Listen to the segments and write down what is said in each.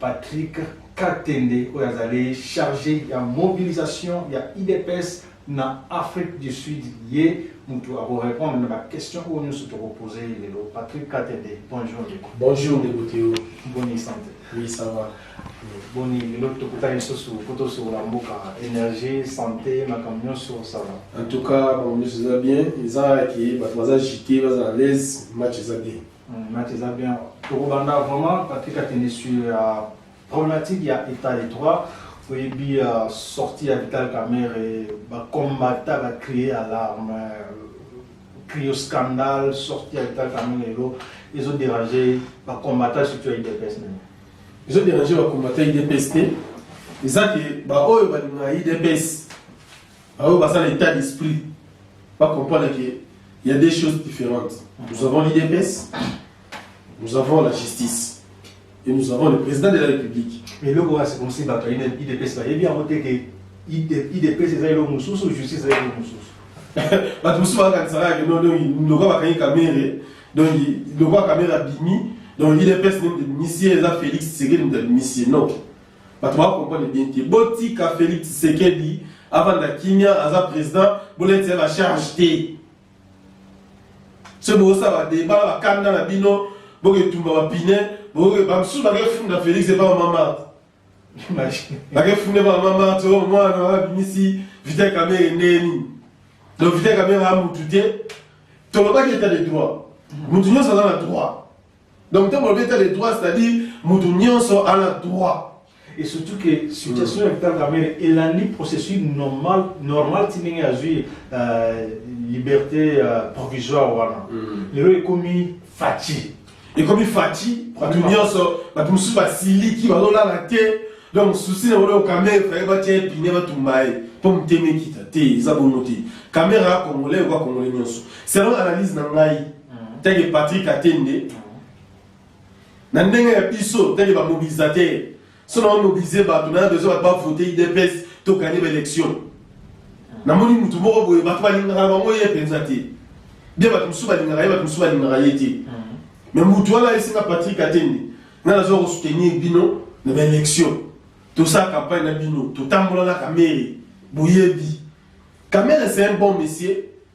Patrick Katende oyo azali charge ya mobilisation ya udps na Afrique du Sud ye mutu akorepondre na baquestion oyo nyonso tokopose ye lelo. Patrick Katende, bonjour ndeko. Bonjour ndeko Theo. Boni sante. Oui, ça va. boni lelo tokutani lisusu mpo tosokola mboka énergie santé makambo nyonso osala en tout cas makambo nyonso eza bien eza ke bato baza jite baza à l'aise match eza bien Hmm, match eza bien tokobanda vraiment katika kende sur ya problématique ya état de droit oyebi ya sorti ya vital camere bacombata bacrie alarme crio scandale sorti ya vital camere lelo ezoderange bacombata surtout ya idps nini ezoderange bacombata idps te eza ke baoyo balingaka idps Baoyo baza na etat d'esprit ba comprendre que il y a des choses différentes. Nous avons l'IDPS, nous avons la justice et nous avons le président de la République. Mais le roi c'est comme si bato ina IDPS ba yebi yango te ke IDPS eza eloko mosusu justice eza eloko mosusu. Bato mosusu bakanisaka ke non donc lokola bakangi Kamerhe donc lokola Kamerhe abimi donc IDPS nde misie eza Félix Tshisekedi moto abimi sie non. bato ba comprendre bien te botika félix tshisekedi avanda kimia aza président boleti ya bacharge te soki bokosala badeba na bakanda na bino boketumba bapine bamosusu bakefunda félix epa bamama bakefunda epa bamama to oh, mwana wana abimisi vital kamere ndenge nini donc vital kamere amutu te tolobaki état de droit motu nyonso aza na droit Donc ntango balobi etat de droit c'est-à-dire moto nyonso ana droit et surtout que situation ya vital kamere elandi processus normal normal ti ndenge azwi euh, liberté euh, provisoire wana lelo ekomi faci ekomi faci bato nyonso bato mosusu basiliki bazolala te donc susi na bango kamere faye batya epine batumba ye mpo motema ekita te eza bongo te kamere ya congolais okoa congolais nyonso selon analyse na ngai teke Patrick Atende na ndenge ya biso teke ba mobilisateur so na mobiliser bato na besoin bato ba voter IDPS to gagner ba élection namoni mutu moko boye bato balingaka bango ye mpenza te bie bato mosusu balingaka ye bato mosusu balingaka ye te me mutu wana ayesinga Patrick Atende nga nazo ko soutenir bino na ba élection tosala campagne na bino totambola na kamere boyebi kamere c'est un bon monsieur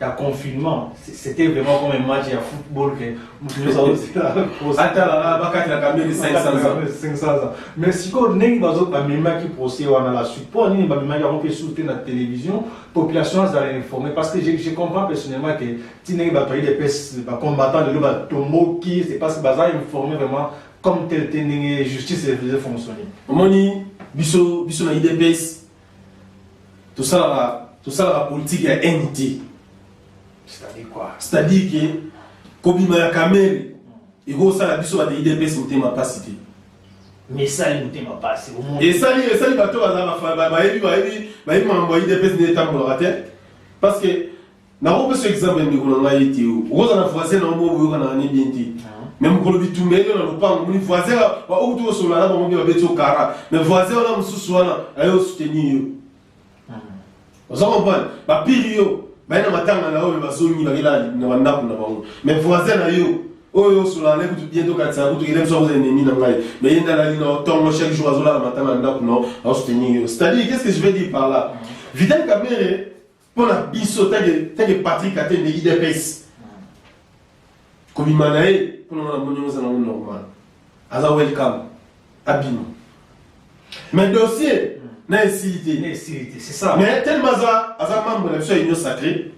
ya confinement c'était vraiment comme un match ya football que moto nyonso aoziatala bakatelaka mbeli 500 ans mais sikoyo ndenge bazo bamemaki procès wana la suite mpo nini bamemaki yango mpe susu te na télévision population azala informé parce que je, je comprends personnellement que ti ndenge bato ayi depes bacombattant lelo batomboki c'est parce que baza informé vraiment comme tel te ndenge justice efaisait fonctionner omoni biso biso na idps tosalaka tosalaka politiki ya haine te c'est-à-dire ke kobima ya kamere ekosala biso bato idps motema mpasi te esali motema mpasi esali esali bato bayebi bayebi makambo ya idps nde etambolaka te parce que Nakopesa example ya ndeko na ngai ye Theo. Okozala na voisin na yo moko boyokanaka ne bien te. Mais mokolo bitumba eyo na lopango moni voisin ba okuti kosolola na bango mpe babeti yo kara. Mais voisin wana mosusu wana aye osoutenir yo. Oza comprendre? Bapili yo baye na matanga na yo mpe bazongi bakela na bandako na bango. Mais voisin na yo oyo osolola na ye kutu bien tokatisa kutu kele biso akozala ennemi na ngai. Mais ye nde alali na yo ntongo chaque jour azolala matanga na ndako na yo aosoutenir yo. C'est-à-dire qu'est-ce que je veux dire par là? Vital Kamerhe mpo na biso tanke patrik atende idps kobima na ye mpo na moni oza nango normal aza welcome abima mais dossier na esili te mais telema aza aza membre na biso ya union sacré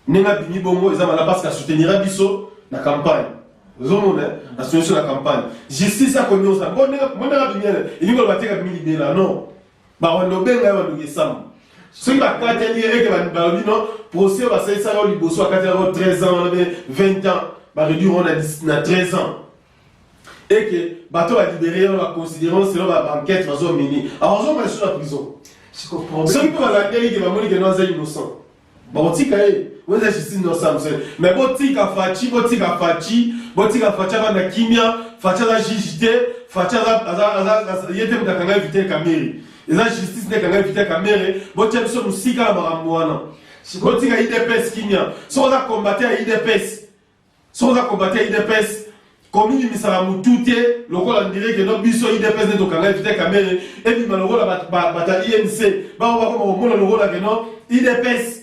ndenge abimi bongo eza mala parce que asoutenira biso na campagne ozomona asoutenir biso na campagne justice akonyosa mpo ndenge abimi elingi oloba te kabimi libela non bakolobela ya baluki sama soki bakateli ye eke balobi no procès oyo basalisaka yo liboso bakateli yango 13 ans wana mpe 20 ans bareduire yango na 13 ans eke bato balibere yango baconsidere selon baenquête bazomini akozonga lisusu na prison soki mpe balandeli ke bamoni ke no aza innocent bakotika ye weza justice no samson mais botika faci botika faci botika faci abanda kimia faci aza juge te faci ye te moto akanga evite kamere eza justice nde ekanga evite kamere botia biso mosika na makambo wana botika idps kimia soki oza combater ya idps Soki oza combattant ya udps, komibimisaka mutu te lokola ndire ke no biso udps nde tokanga evite kamere ebima lokola bato ya inc bango bakoma komona lokola ke no udps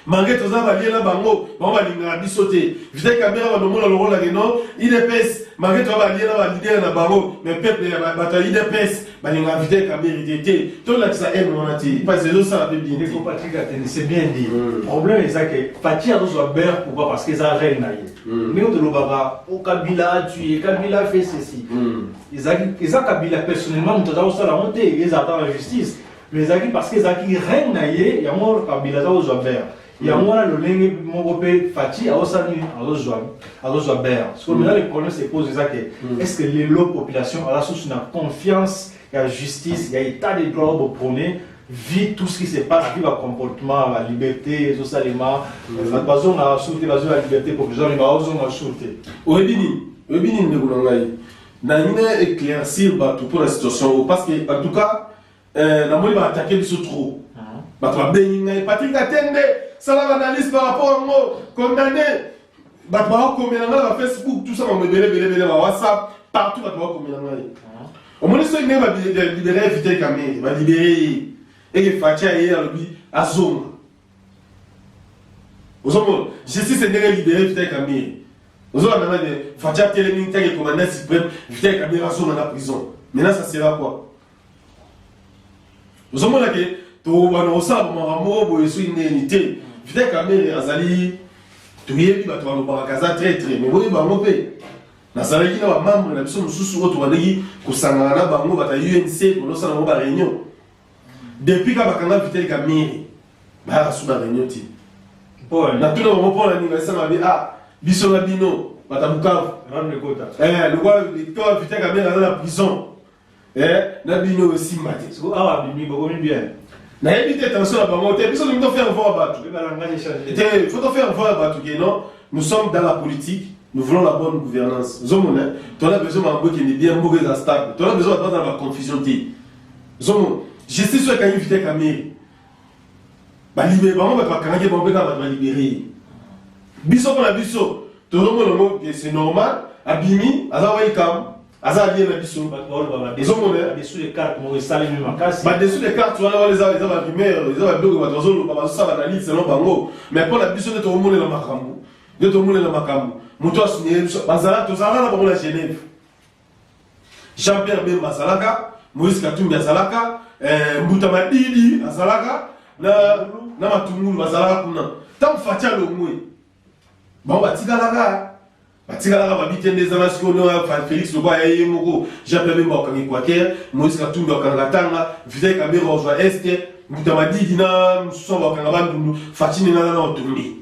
mange toza balie na bango bango balingaka biso te vite kamere bando omona lokola ke no udps mange toza balie na balidere na bango me peuple ya bato ya udps balinga invité kabiri te te tolakisa aime wana te parce ezosala mpe bien ndeko patrick atene c'est bien dit mm. problème eza ke fati azozwa beurre pourquoi parce que eza reine na ye mm. ndenge tolobaka o oh, kabila atue kabila fait ceci mm. eza kabila personnellement moto aza kosala yango te eza ata na justice mais ezalaki parce que ezalaki reine na ye yango kabila aza kozwa beurre yango wana lolenge moko mpe faci aosala nini azozwa azozwa bere sikoyo mena le problème se pose eza ke est ce que lelo population aza susu na confiance ya justice ya état de droit oyo boprone vit tout ce qui se passe vi bacomportement baliberte ezosalema bato bazongaka sur te bazwi baliberte provisoire me baozonga sur te oyebi nini oyebi nini ndeko na ngai nalingi na éclaircir bato mpo na situation oyo parce que en tout cas Eh, na moni ba attaquer biso trop. Ah. Bato ba bengi ngai Patrick Katende, sala ba analyse par rapport à moi, condamné. Bato ba komela ngai na Facebook, tout ça ba mebele bele bele ba WhatsApp, partout bato ba komela ngai. Ah. Omoni so ngai ba libérer Vital Kamerhe, ba libérer. Et que Fatia est là lobi azonga. Ozomona, justice est ngai libérer Vital Kamerhe. Ozomona ngai Fatia telemi ngai commandant suprême, Vital Kamerhe azonga na prison. Maintenant ça sera quoi? ozomona ke tobana kosala bamaka moko boye soki ndeni te vita kamere azali toyebi bato balobaka aza traitre me boyebi bango mpe nazalaki na bamembre na biso mosusu oyo tobandaki kosangana na bango bata unc kolosala yango bareunion depuis ka bakanga vitel kamere bayaka su bareunion ti natuna bango mpo na nini basanga bi a biso na bino bata bukavu lokola vitel kamere aza na prison Eh, na bino oyo esimba te. Siko awa abimi bokomi bien. nayebi te tension na bango te biso tolingi tofaire voir bato te faut tofaire voir bato ke non nous sommes dans la politique nous voulons la bonne gouvernance ozomona tona besoin mambo ekende bien mboka eza stable tona besoin bato baza na baconfusion te ozomona justice oyo ekangi vite kamere balibere bango bato bakangaki bango mpe kaka bato balibere ye biso mpo na biso tozomona ngo c'est normal abimi aza wa likambo aza alie na biso ezomonabadesu de carte wana wana eza barumeur eza babiloko bato bazoloba bazosala analyse selon bango mais mpo na biso nde tokomonela makambo nde tokomonela makambo moto asinyele biso bazala tozalaka na bango na genève Jean Pierre Bemba azalaka, Moïse Katumbi azalaka, eh, Mbuta Madidi azalaka na na matungulu bazalaka kuna. Tant Fatshi alongwe. Bango batikalaka batikalaka babite nde ezanga sikoyo no félix loba ya ye moko jean pierre bemba okangi quaker moïse katumbi okanga tanga vital kabera ozwa este mbuta madidi na mosusu bakanga bandundu fatine nana na otombi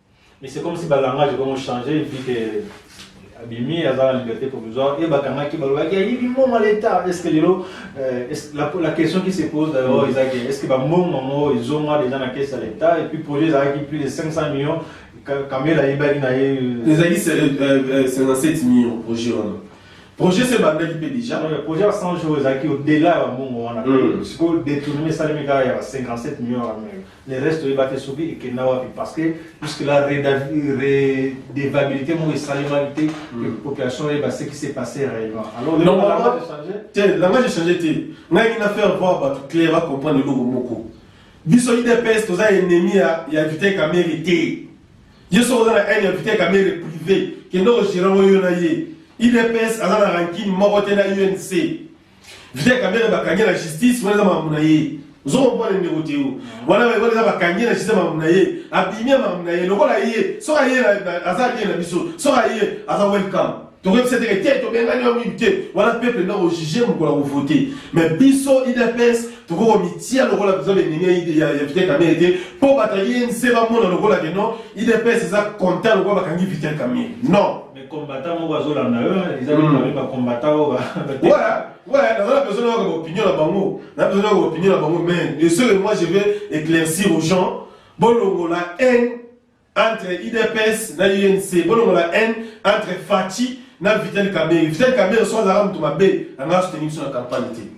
Mais c'est comme si ba langage comme changer et puis que abimi aza na liberté provisoire et bakangaki balobaki ayibi mbongo ya leta est ce que lelo euh, la, la question qui se pose d'ailleurs mm. ezaki est ce que bambongo yango ezonga déjà na caisse ya leta et puis projet ezalaki plus de 500 millions kamela ayebaki na ye euh, ezalaki 57 euh, euh, millions projet wana projet se ebandaki mpe déjà projet ya 100 jours ezalaki au delà ya bambongo wana mm. sikoyo détournement esalemi kaka ya 57 millions ya Le reste toyeba te soki ekenda wapi parce que jusque là redevabilité moko esalemaki te que population eyeba ce qui s'est passé réellement alors normalement te langage echange te ngai ngi na faire voir bato claire bacomprendre eloko moko biso idps toza ennemi ya, ya vite kamere te ye soki oza na haine ya vite kamere privé kende ogérant oyo na ye idps aza na rankine moko te na unc Vita Kamere bakangi na justice wana eza makambo na ye ozokomprendre ndeko te yo wana wana eza bakangi na justice makambo na ye abimi ya makambo na ye lokola ye soki aye aza bien na biso soki aye aza welcome tokoyebisa teke te tobengani yo mingi te wana peuple nde akojuge mokolo akovote mais biso idps tokoki komitia lokola biza benini ya vital kamere te mpo bato ya inc bamona lokola ke non idps eza content lokola bakangi vital kamere non combattant moko azolanda yo eza nini babe ba combattant oyo Ouais, dans la personne a opinion là bango, la personne a opinion là bango mais le seul moi je vais éclaircir aux gens bolongo la haine entre IDPS na UNC, bolongo la haine entre Fatih na Vital Kamerhe. Vital Kamerhe soit la rame de ma baie, la marche tenue sur la campagne.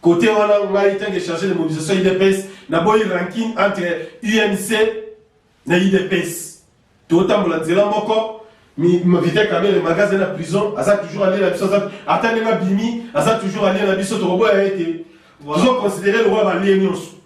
Cote wana ngai tanke charge de mobilisation udps na boyi ranking entre UNC na udps totambola nzela moko vite kabele magasin na prison aza toujours alie na biso ata ndenge abimi aza toujours alie na biso tokoboya ye te tozo considere lokola balie nyonso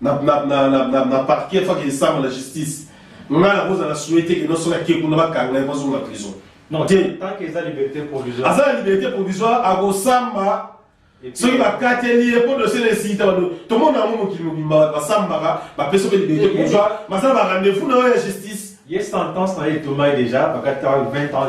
na, na, na, na, na, na parquet faki esama na justice ngai nakozala souhaite ke nosoki ake kuna bakanga ye bazonga prison te aza na liberté provisoire akosamba soki bakateli ye mpo dosie na esita bado tomona yango mokili mobimba bato basambaka bapesi mpe liberté provisoire basala ba rendez-vous na yo ya justice ye sentence na ye etomai déjà bakataka 20 ans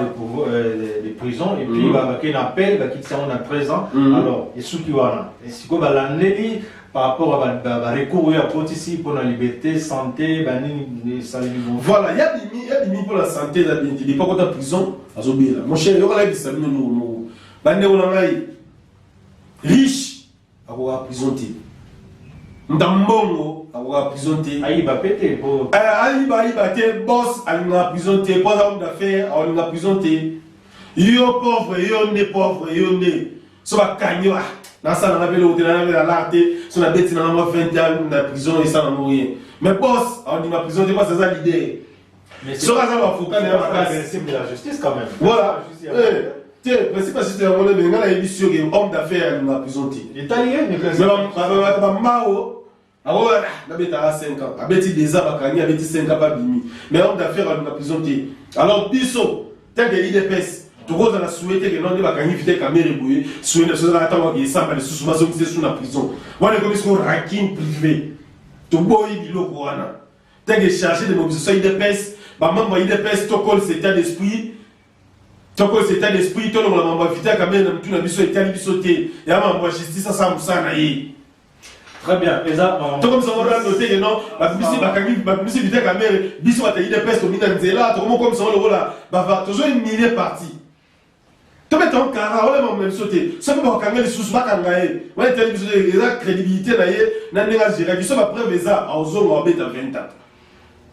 de prison et puis bakei na appel bakitisa yango na 13 ans alors esuki wana sikoyo balandeli par rapport à ba, ba recours oyo akotisi mpo na liberté santé banini esalemi bongo voilà ya bimi ya bimi mpo na santé eza bindi lipa kota prison azobela mon cher yoka nayebisa bino noko noko bandeko na ngai riche akoka prison te muta mbongo akoka prison te ayiba mpe te mpo eh, ayiba ayiba te bos alingaka prison te mpo aza homme d'affaire aolinga prison te yo pauvre yo nde pauvre yo nde so bakangi wa nasala na beloko te nanabela lar te so nabeti nanga mwa 20 ans na prison esala no rien mais bos aondima prison te bos aza lider soki aza baavoka na ya makasi voilà eh, te principe asiste yango nde ngai nayebisi yo ke homme d'affaire alinga prison te mais bambao Awo ah na betaka 5 ans, abeti des ans bakangi, abeti 5 ans babimi. Mais homme d'affaires alinga prison te. Alors biso tant que IDPS tokozala souhaite que nonde bakangi vite kamere boye souhaite na sozala ata waki esamba lisusu bazongisa su na prison. Wana ekomi siko rakin privé. Toboyi biloko wana. Tant que chargé de mobilisation IDPS, ba membre IDPS tokol cet état d'esprit toko cet état d'esprit tolongola mambo ya vita kamere na mitu na biso etali biso te ya mambo ya justice asala mosala na ye Très bien. Eza to comme ça on rend noté que non, ba bisi ba kangi ba bisi vite kamere, biso ba tayide peste au mina nzela, to comme comme ça on le vola, ba va toujours une millier partie. To mettre en cara, on l'a même sauté. Ça peut pas kanga les sous ba kanga ye. Ouais, telle biso eza crédibilité na ye, na ndinga jira, biso ba preuve eza, au zo ba beta 20 ans.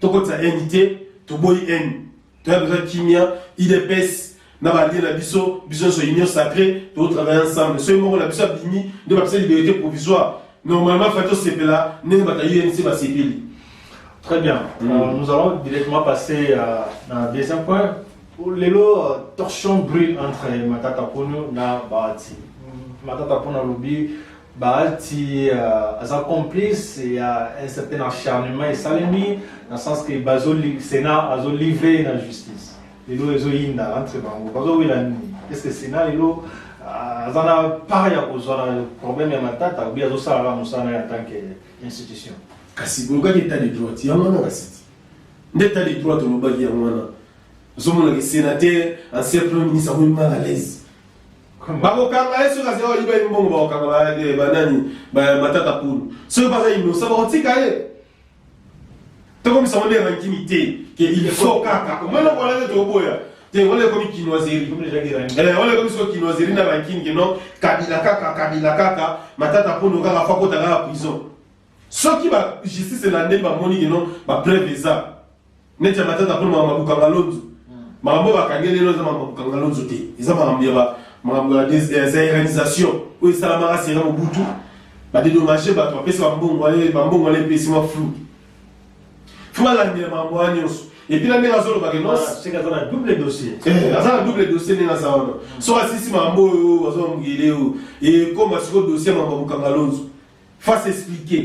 tokotisa haine te toboyi haine toya besoin kimia idps na balie na biso biso nyonso union sacré tokotravaille ensemble soki moko na biso abimi nde bapesa liberté provisoire normalement fai tosepela ndenge bato ya unc basepeli Très bien. Mm. Euh, nous allons directement passer euh, à un deuxième point. Lelo, euh, torchon brûle entre Matata Pono et Bahati. Matata Pono a Bahati uh, aza complice ya un certain acharnement esalemi na sens que bazo Sénat azo livrer na justice lelo ezoyinda entre bango bazowela nini est ce que Sénat lelo uh, aza na part ya kozwa na problème ya matata obi azosalaka mosala ya tant que institution kasi bolukaki etat de droit yango wana kasi nde etat de droit tolobaki yango wana ozomonaka sénateur ancien premier ministre akomi mal à l'aise bakokanga ye soki azali oyiba ye mbongo bakokanga banani matata pulu soki baza inosa bakotika ye tokomisa ngo nde rankini te ke il faut kaka omona kolande tokoboya te wana ekomi kinoiserie eh, wana ekomi soko kinoiserie na rankini ke non kabila kaka kabila kaka matata pulu kaka fakota kaka prison soki ba justice elande bamoni ke non bapreuve eza neti ya matata mpo makambo ya kokanga lonzo makambo oyo bakangi lelo eza makambo ya kokanga lonzo te eza makambo ya makambo ya zairanisation oyo esalamaka sera mobutu badedomage bato bapesa bambongo bambongo wana epesi mwa flou fo balandela makambo wana nyonso epuis na ndenge azolobake aza na ah, double dossier eh, ndenge aza wana soki asisi makambo oyo azwa mokili oyo ekoma sikoyo dossier ya makambo ya kokanga lonzo face expliquer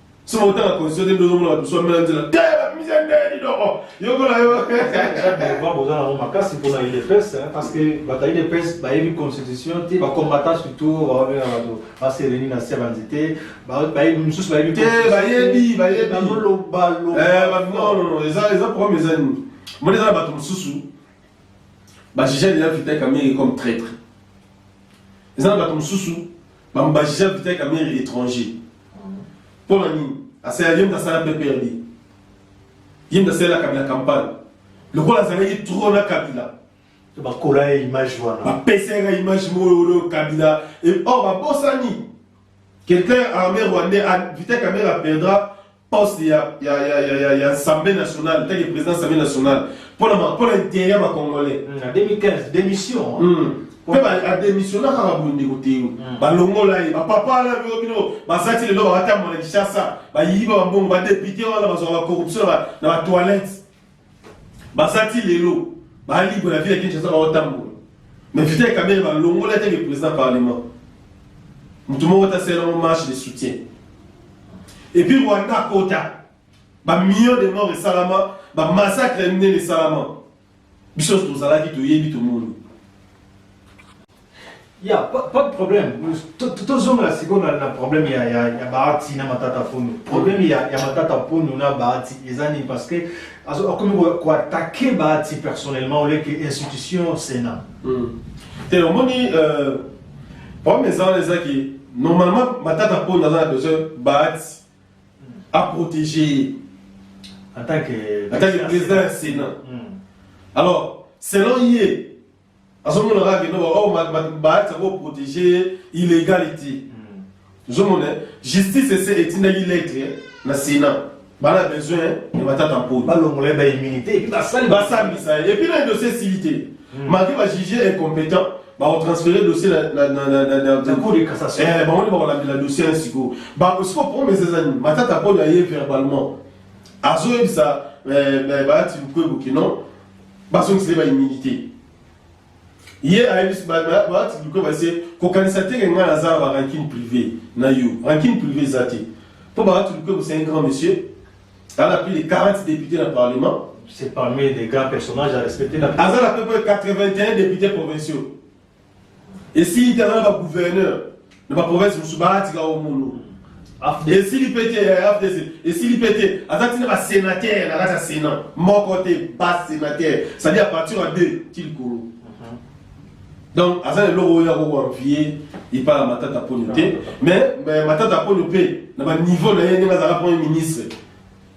soki otala constitution te ndozomona bato mosusu bamela nzela te bamise nde lidoko yokola yo devoir boza nango makasi mpona udps parce que bato ya udps bayebi constitution te bacombattant surtout baobenga bato basereni na se ya banzete bayebi mosusu bayebi te bayebi bayebibaolobalobanonono eh, eza problème eza nini moni eza na bato mosusu bajugea deja vital kamere comme traitre eza na bato mosusu bambajija vitai kamere étranger mpo na nini asala ye nde asala pprd ye nde asalela kabila campagne lokola azalaki tro na kabila bakola ye image wana bapesa yaka image moyo kabila or oh, babosani quelqu'un armé rwandais vita kamere aperdra poste ya, ya, ya, ya, ya, ya Assemblée nationale, tant que président de l'Assemblée nationale, pour le, pour le derrière ma Congolais. Mm, en 2015, démission. Hein. Mm. mpe ademissiona kaka bondeko te mm. balongola ye bapapa wana bino bino baza ti lelo bakatambona kinshasa bayiba bambongo badepute wana bazwaka bacorruption na batoilette baza ti lelo ba libre la vie ya Kinshasa ba otambola mais Vital Kamerhe ba longola te ke président parlement mutu moko ta sela mo marche de soutien et puis Rwanda kota ba millions de morts esalama ba massacre nene esalama biso tozalaki toyebi tomoni Ya, pas, pas de problème. Tozongela sikoyo na, na problème ya, ya, ya Bahati na Matata Ponyo. Problème ya, ya Matata Ponyo na Bahati eza nini parce que azo akomi ko attaquer Bahati personnellement au lieu que institution Sénat. Mm. Te omoni euh, problème eza wana eza ki normalement Matata Ponyo aza na besoin Bahati a protéger en tant que en tant que président ya Sénat. Mm. Alors selon ye azomona kaka kino baoyo baati yango protege illegality ozomona hmm. justice ese etindaki lettre na sénat bana besoin ya batata mponi balongola ba immunité epuis basambisa ye epuis na dossier esili te hmm. malgré bajuge incompétent bakotransfere dossier bamoni bakolambela dossier ya sikoyo siko promese eza nini matata mponi aye verbalement azoyebisa eh, eh, baati lukwebo kino bazongisa ye ba immunité ye ayebisi baatibliko base kokanisa te ke ngai naza na barankine privé na yo rankine privé eza te mpo baatibliko kosa un grand monsieur ala plus de 40 député na parlement c'est parmi les grands personnages à respecter aza na peu près 81 députés provinciaux esili te wana ba gouverneur na ba province mosusu baatika o mulu esili mpe te ya fdc esili mpe te aza ntina basenatere na kati ya senat moko te basenatere cetadi à partir ya deux ti likolo donc aza na eloko oyo akokoanvie epai ya matata mponyo te mais matata mponyo mpe na baniveau na ye ndenge azalaka premier ministre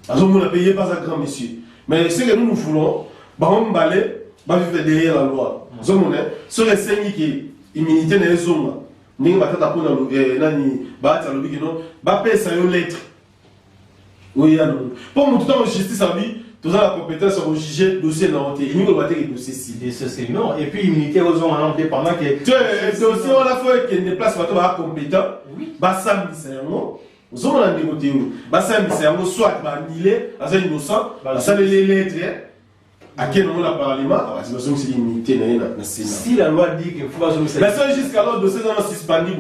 azomona mpe ye mpe aza grand monsieur mais ce que nous nous voulons bango mibale bavivre derrière la loi ozomona soki esengi ke immunité na ye ezonga ndenge batata mpo eh, nani baati alobi kino bapesa yo lettre oyeya nango mpo motu ntango justice alobi toza na compétence ya kojuge dossier na yo te elingi koloba te ke dossier si non et puis immunité ozonga nango te pendant ke dossier wana fo ekende place bato baa compétent basambisa yango ozomona ndeko te oyo basambisa yango soit baanile aza innocent basaleli lettre ake nango na parlement bazongiseli immunité na ye na senasi la loi dit que faut bazongisa la seule jusqu'alors dossier eza na suspendu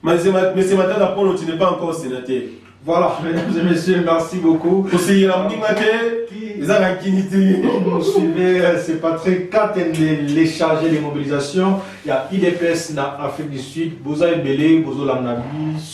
boye monsieur matata polo tu n'es pas encore sénateur voilà mesdames et messieurs merci beaucoup koseyela moninga te eza na nkini te vous suivez euh, c'est patrick katende les chargés de mobilisation ya idps na afrique du sud boza ebele bozolanda biso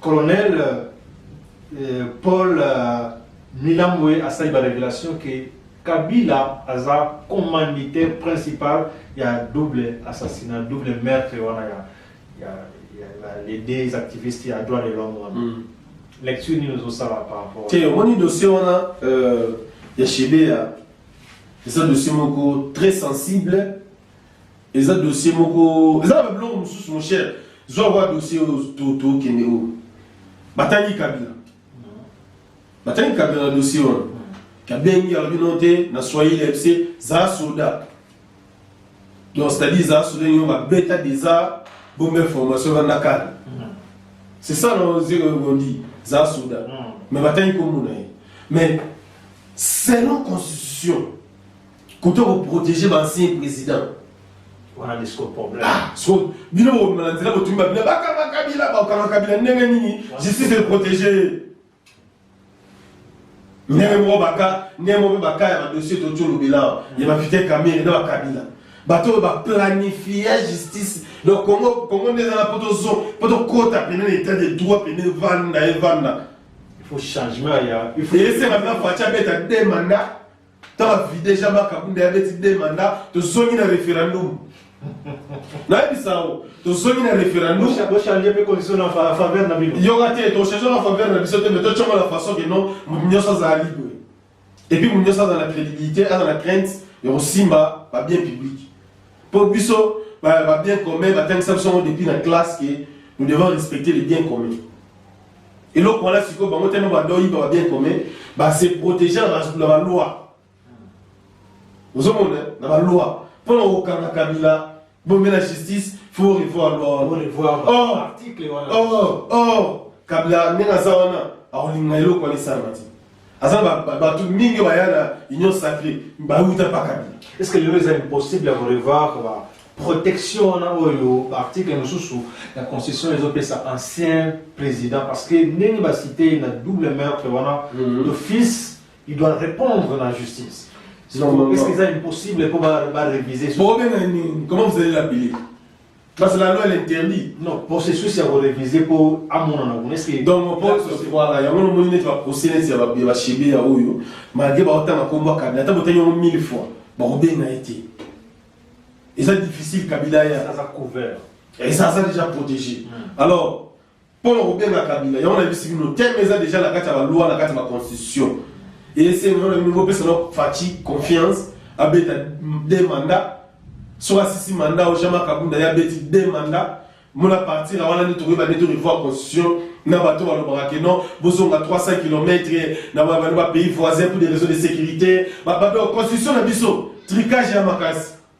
Colonel euh, Paul euh, Milambwe asali ba révélation que Kabila aza commanditaire principal ya double assassinat, double meurtre wana ya ya ya les deux activistes ya droit de l'homme wana. Mm. Lecture nini ozosala par rapport? Te omoni dossier wana euh, ya Shebea eza dossier moko très sensible eza dossier moko eza ba biloko mosusu mon cher zwa kwa dossier oyo tokende oyo batangi kabila batangi kabila na dossier wana kabengi alobi no te na swahili ayebisi za soda donc c'est-à-dire za soda yo babeta deja bombe information banda kala c'est ça no zeko bondi za soda mais batangi komona ye mais selon constitution Kutu ko protéger ba ancien président. Wana nde siko problème. Ah, so bino bo na nzela bo tumba bino baka ba kabila ba kanga kabila ndenge nini? Justice est protégée. Ndenge moko baka ndenge moko baka ya ba dossier to tolo bilawa. Ya ba fite kamere na ba kabila. Bato oyo ba planifia justice donc Congo Congo nde ezala poto zo poto kota pene na état de droit pene vanda evanda. Il faut changement ya il faut esenga mpe faci abeta de manda Tant à vider Jama Kabunda ya beti deux mandats, te zongi na référendum. nayebisa yo tozongi na référendum bochange mpe condition na faveur na bino yoka te tochange na faveur na biso te mais totyongo na façon ke non moto nyonso azala libre epuis moto nyonso azala na crédibilité aza na crainte ya kosimba babien public Pour biso ba, ba bien commun batangisa biso yango depuis na classe que nous devons respecter les biens communs eloko wana sikoyo bango tellement badoyiba ba bien commun base protege na baloi ozomona na baloi mpo na kokanga kabila bomela justice faut revoir loi wana or or or kabila ndenge aza wana akolinga eloko wana esalama te aza bato mingi baya na union sacré bauta mpa kabila est ce que lelo eza impossible ya korevoir protection wana oyo baarticle mosusu ya constitution ezopesa ancien président parce que ndenge basite na double meurtre wana mhm. d'office il doit répondre na justice est ce que eza impossible mpo bareviser comment vous allez l'appeler Parce que la loi l'interdit. Non, processus ya ko réviser po amonana kuna est-ce que donc po voilà yango no moni neti ba procès neti ya ba ba shebe ya oyo malgré ba otanga kombo kabila ata botani yango 1000 fois ba kobenga ye te eza difficile kabila ya aza couvert et ça ça déjà protégé hmm. alors Mpo na kobenga Kabila, yango nayebisi bino, teme eza deja na kati ya balwa, na kati ya baconstitution. Esengo yango na bino bopesa na Fatshi confiance, abeta de mandat, soki asisi mandat oyo Jean-Marc Kabunda ye abeti de mandat, mona partir wana nde tokoyeba nde to revoir constitution na bato balobaka ke non bozonga 300 km na babano ba pays voisin pour des raisons de sécurité babato constitution na biso tricage ya makasi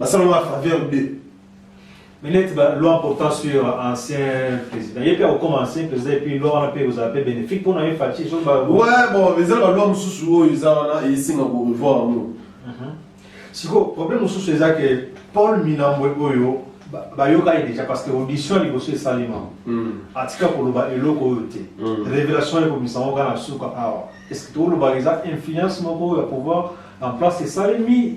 Basala ba faveur de mais neti ba loi portant sur ancien président ye mpe akokoma ancien président epuis loi wana mpe ekozala mpe bénéfique mpo na ye faci so ba ouais bon eza na baloi mosusu oyo eza wana esenga korevoir yango sikoyo problème mosusu eza ke paul minambwe oyo bayokaki déjà parce que audition ya liboso esalema hmm. atika koloba eloko oyo te hmm. révélation ekomisa yango kaka na suka awa est ce que tokolobaka eza influence moko ya pouvoir en place esalemi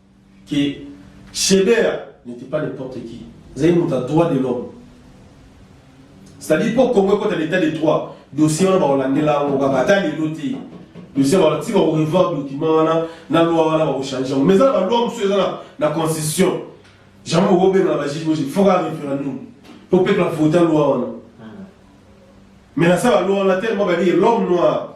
que Shebeya n'était pas n'importe qui. Azali moto ya droit de l'homme. C'est-à-dire mpo Congo ekota l'état de droit, dossier wana bakolandela yango kaka ata lelo te. Dossier wana ti bakorevoir document wana na loi wana bakochange yango. Mais eza na baloi mosusu eza na, na constitution. Jamais okobengana bajuge boye, faut kaka référendum mpo peuple avota loi wana. Mais na sala loi wana tellement balie l'homme noir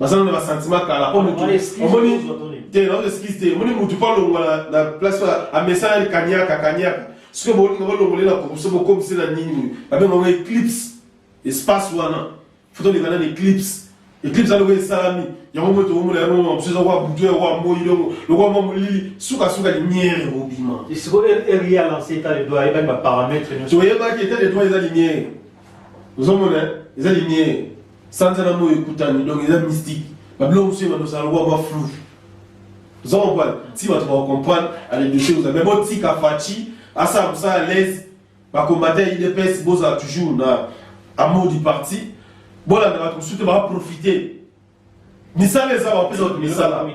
baza nano ba sentiment kala po mutu omoni te na excuse te omoni mutu po alongola na place amesana kaniaka kaniaka soki bolinga bolongole na kokoso bokomisi na nini boye babenga ngo eclipse espace wana foto oleka nani eclipse eclipse aloko esalami yango moto omona yango mama mosusu ezakwa butu yakwa moi longo lokwa mwa molili sukasuka limiere bobima toyebaki eta de droit eza limiere ozomona eza limiere Sanza na moyi ekutani donc eza mystique. Ba biloko mosusu ebanda kozala lokola mwa flou. Oza comprendre? Ti bato ba comprendre à les dossiers oza mais botika Fatshi asala mosala à l'aise ba combattants ya UDPS bozala toujours na amour du parti bolanda bato mosusu te ba profiter misala eza bapesa bato misala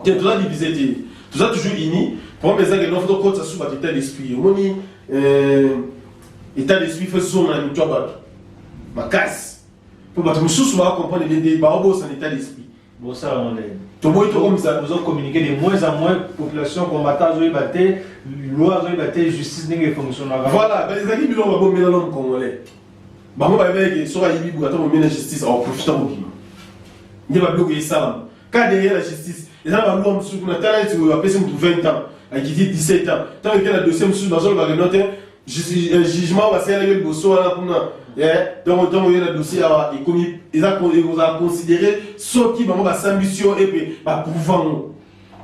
te toza divise te toza toujours uni problème eza kelelo fo tokotisa susu bato état d'esprit omoni euh, état d'esprit fo ezonga na mitu ya bato makasi mpo bato mosusu baacomprendre nde nde baobosana état d'esprit bosala molele toboyi tokomisa ozo communiquer de moins en moins population combattant azoyeba te loi azoyeba te justice ndenge efonctionnaka voilà ezalaki biloko babombela lome congolais bango bayebaki ke soki ayibi boye ata momie na justice akoprofita kobima nde babiloko esalama ka derrière la justice eza na balwa mosusu kuna tala neti oyo apesi motu 20 ans akiti 17 ans ntango eke na dossier mosusu bazoloba keno te euh, jugement oyo asalaki yo liboso wana kuna eh, donc ntango oye na dossier awa ekomi ekozala considere soki bango basambisi yo epe baprouva ngo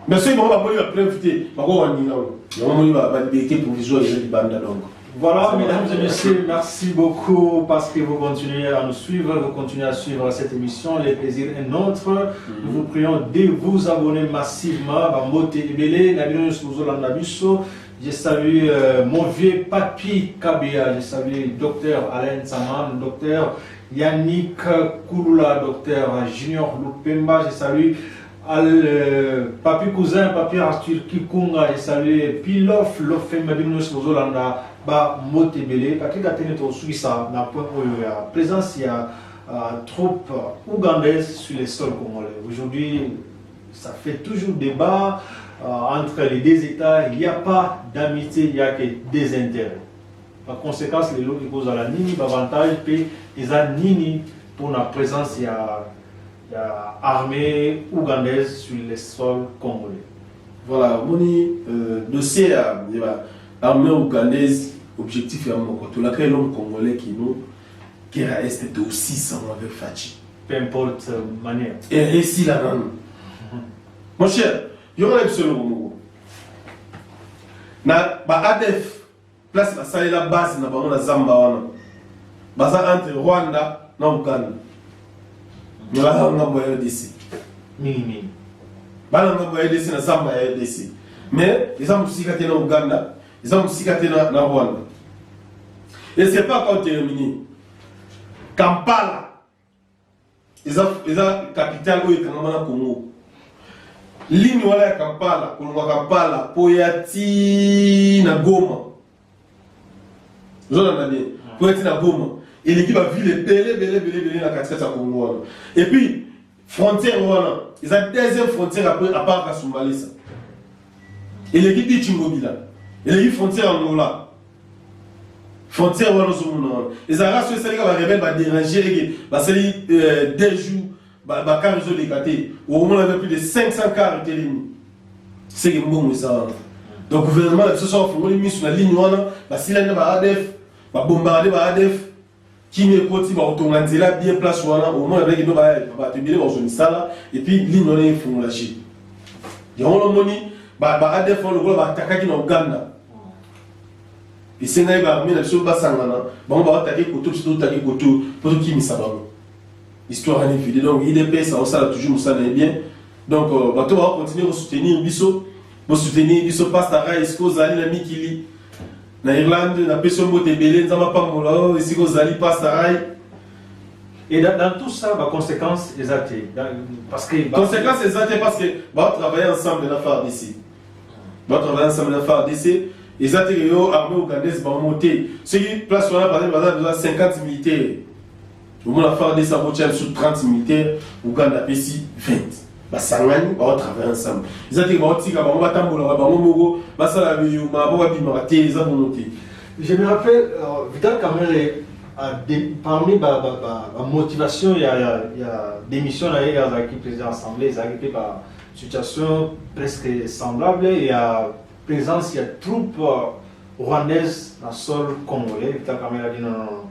Mais soki bango bamoni ba preuve te bako wandina ngo yango moni ba liberté provisoire eza libanda donc Voilà, mesdames et messieurs, merci beaucoup parce que vous continuez à nous suivre, vous continuez à suivre cette émission, les plaisirs et nôtres. Mhm. Nous vous prions de vous abonner massivement. Bambote Ebele, Nabino Souzola Nabiso. Je salue euh, mon vieux papy Kabia, je salue docteur Alain Saman, docteur Yannick Kouloula, docteur Junior Loupemba, je salue Al euh, papi cousin papi Arthur Kikunga et saluer Pilof Lofemba bino nyonso bozolanda ba mbote ebele Patrick Atene tosukisa na point oyo ya présence ya euh, troupe ougandaise sur le sol congolais aujourd'hui ça fait toujours débat euh, entre les deux États, il n'y a pas d'amitié, il n'y a que des intérêts. Par conséquent, les lois qui posent à la nini, l'avantage, et ils nini pour la présence, il y a ya armée ougandaise sur le sol congolais. Voilà, moni euh, dossier ya ba armée ougandaise objectif ya moko tolaka elongo congolais kino kera est to 600 avec Fatshi. Peu importe euh, manière. Et réussi la nanu. Mon cher, yo na biso elongo moko. Na ba ADF Place basalela base na bango na zamba wana baza entre Rwanda na Uganda mais baza ngambo ya RDC mingi mingi bana ngambo ya RDC na zamba ya RDC mais eza mosika te na Uganda eza mosika te na, na Rwanda et c'est pas quand terminé Kampala eza eza capitale oyo ekangama na congo ligne wana ya kampala kolonga kampala mpo ya ti na goma ozolanda bien mpo ya ti na goma eleki bavile ebele ebele ebele ebele na katikati ya congo wana epuis frontière wana eza deuxième frontière après à part kasumbalesa eleki bichi ngobila eleki frontière angola Frontière wana ozomona wana ezalaka soki esali kaka barebele baderange eke basali euh, deux jours bakar ezoleka te okomona mpe plus de 500 car etelemi seke mbongo eza wana donc gouvernement na biso soki afongoli miso na ligne wana basilani na ba adf babombaka nde ba adf kimia ekoti bakotonga nzela bien place wana omona ndenge kino bato ebele bakozwa misala epuis ligne wana efungola je yango wana omoni baadf wana lokola baatakaki na uganda esengaki baarme na biso basangana bango baatake koto biso totake koto mpo tokimisa bango histoire ani vide donc idps aosala toujours mosala na ye bien donc euh, bato bakokontinue kosoutenir biso bosoutenir biso pasta rais kozali na mikili Na Irlande, na pesi yo mbote ebele, Nzambe apambola yo esika ozali pastarai. Et dans, dans tout ça, ba conséquences eza te. Dans- Parce que ba- Conséquence eza te parce que ba travailler ensemble na FARDC. Ba travailler ensemble na FARDC. Eza te que yo armée ougandaise bango te. Soki place wana par exemple baza déjà 50 militaires. omona fardc akotya biso 30 militaire uganda apesi 20 basangani baotravaille ensemble eza te baotika bango batambolaka bango moko basala biyuma po babimaka te eza bongo te je me rappelle euh, vital camere parmi bamotivation ba, ba, ba ya, ya démission na ye azalaki président assemblée ezalaki mpe basituation presque semblable ya présence ya troupe euh, rwandaise na sol congolais vital camere adi nonono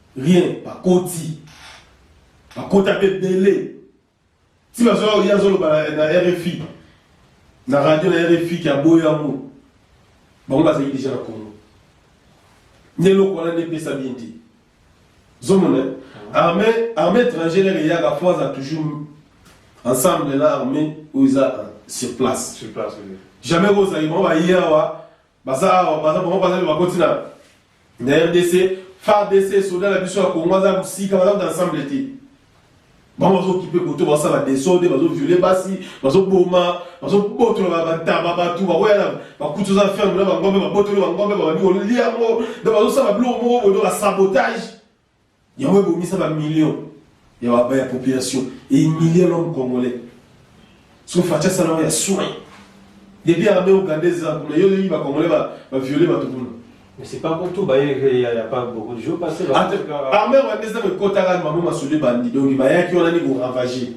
rien bakoti bakota mpe ebele ti bazoya ye azoloba na rfi na radio na rfi ki aboyo yango bango bazalaki deja na congo nde eloko wana nde epesa bien te zomona arme arme étrangère eyaka fo aza toujours ensemble na arme oyo eza sur place jamais kozali bango baye awa Baza awa, baza bango baza nde bakoti na na RDC, FARDC, soda na biso ya Congo aza mosika, baza kuta ensemble te. Bango bazokipe koto basala desordre, bazoviole basi, bazoboma, bazobotola bantaba bato, bakoya na bakuti oza ferme na bangombe, babotoli bangombe, babandi kolia yango, donc bazosala biloko moko boye, donc basabotage. Yango ebomisa ba millions ya baba ya population et humilier l'homme congolais. So facha sala ya soin. Depuis armée ougandaise za kuna yo yi ba congolais ba ba violer ba tukuna. Mais c'est pas pour tout ba il y a pas beaucoup de jours passés. Armée ougandaise ko kota ka mamu masuli bandi donc ba yaki wana ni ko ravager.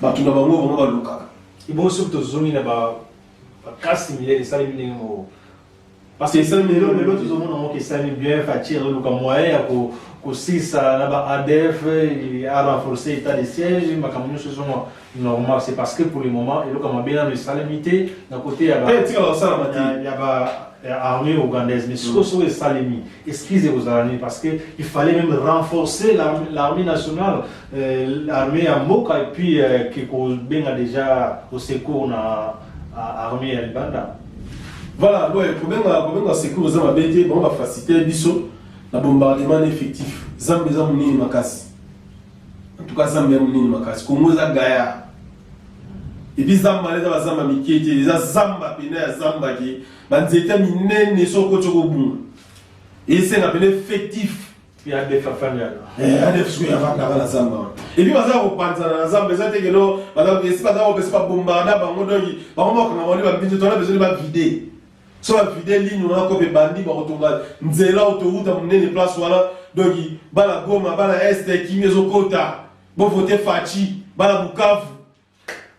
Ba tuna bango bango ba luka. Ibo so to zongi na ba ba kasi milele sali ndenge mo Parce que ça lelo lelo tozo mona ngo kesani bien Fatshi azo luka moyen ya ko kosisa na ba ADF a renforcer état de siège makambo nyonso ezo mwa normal c'est parce que pour le moment eloka mabe nano esalemi te na côté ya ba tika basala ba ya ba armée ougandaise mais sikoyo soko esalemi excuse ekozala nini parce que il fallait même renforcer l'armée nationale euh, armée ya mboka et puis euh, ke kobenga déjà au secours na euh, armée ya libanda voilà boye kobenga kobenga secours eza mabe te bango bafacilite biso na bombardement na effectif zambe eza monene makasi en tout cas zambe ya monene makasi kongo eza gaya epi zamba wana eza bazamba mike te eza zamba mpena ya zamba ke banzete minene soko okoti okobunga esenga mpena effectif ya def afandaka eh, adef soki afandaka na zamba wana epi baza kopanzana na zamba eza te keno esi baza kopesa babombaka na bango donki bango bakanga bani babinzi tona bezoni bavide so bavide ligne wana kope bandi bakotonga nzela autoruta monene place wana donki bana goma bana este kimi ezokota bovote faci bana bukavu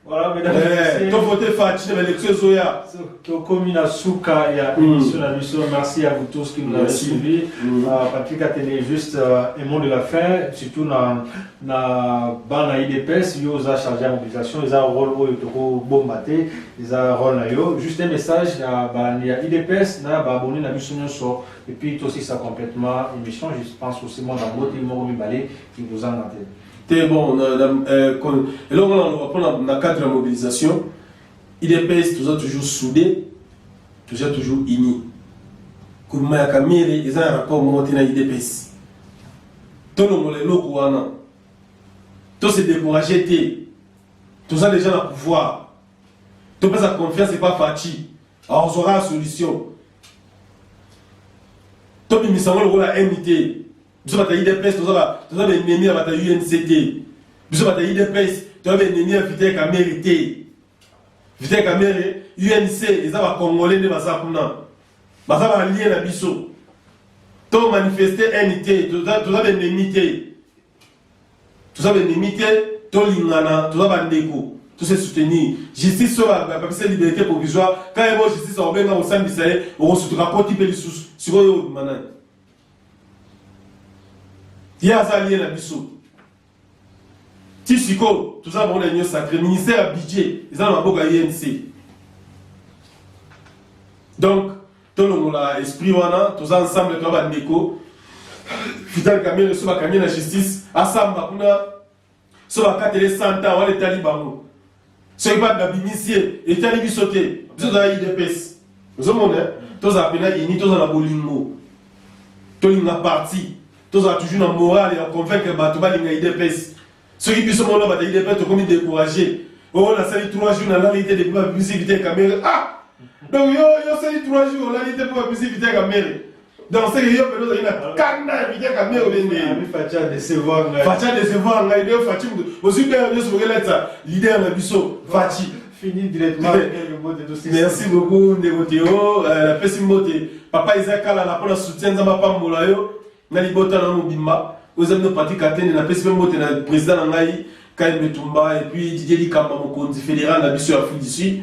Voilà, mesdames et Eh, messieurs. to vote Fatshi na election ezoya. tokomi na suka ya Mm. émission na biso merci à vous tous qui nous avez Merci. suivi Mm. Euh, patrick atene juste euh, aimant de la fin surtout na, na bana idps yo oza chargé ya mobilisation eza rôle oyo tokobomba te eza rôle na yo juste un message ya bandi ya idps na baabonné na biso nyonso epuis tosisa complètement émission je pense aussi mwa bango te moko mibale kikozanga te te bon na, na, euh, kon, eloko na loba pona na cadre ya mobilisation idps toza toujours soudé toza toujours uni gouvernement ya kamere eza na rapport moko te na idps tolongola eloko wana to se décourage te toza déjà na pouvoir topesa confiance epa faci aozwaka solution tobimisa yango lokola mit biso bata idps toza ba toza ba ennemi ya bata UNC te biso bata idps toza ba ennemi ya Vital Kamerhe te Vital Kamerhe UNC eza ba congolais nde baza kuna baza ba alliés na biso to manifester haine te toza toza ba ennemi te toza ba ennemi te tolingana toza ba ndeko tout se soutenir justice soki apesa liberté provisoire quand ebo justice akobenga kosambisa ye okosutuka akoti mpe lisusu sikoyo obima nani ye aza lie na biso ti sikoyo toza bango na union sacré ministère ya budget eza na maboko ya inc donc tolongola esprit wana toza ensemble toza bandeko vital kamere so bakangi na justice asamba kuna so bakatela ye 100 ans wana etali bango soki bato babimisi ye etali biso te biso tozala idps ozomona eh? tozala mpena ini tozala na bolingo tolinga parti tozala toujours na morale ya convaincre bato balinga idps soki biso mona bata idps tokomi découragé oyo oh, nasali 3 jours nalali te depuis babimisi vite kamere ah donc yo yo osali 3 jours olali te mpo babimisi vite kamere Donc c'est yo pelo zali na kanda ya bidya kamia olende. Ami facha décevoir ngai. Facha décevoir ngai de fachi mutu. Osi pe yo so ngela tsa leader na biso fachi. Fini directement Merci beaucoup ndeko Théo. Euh, la pesi mbote. Papa Isaac kala na pona soutien nzamba pambola yo na libota na mobimba. Oza bino pratique atene na pesi pe mbote na président na ngai Kaimbe Tumba et puis Didier Likamba mokonzi fédéral na biso ya Afrique du Sud.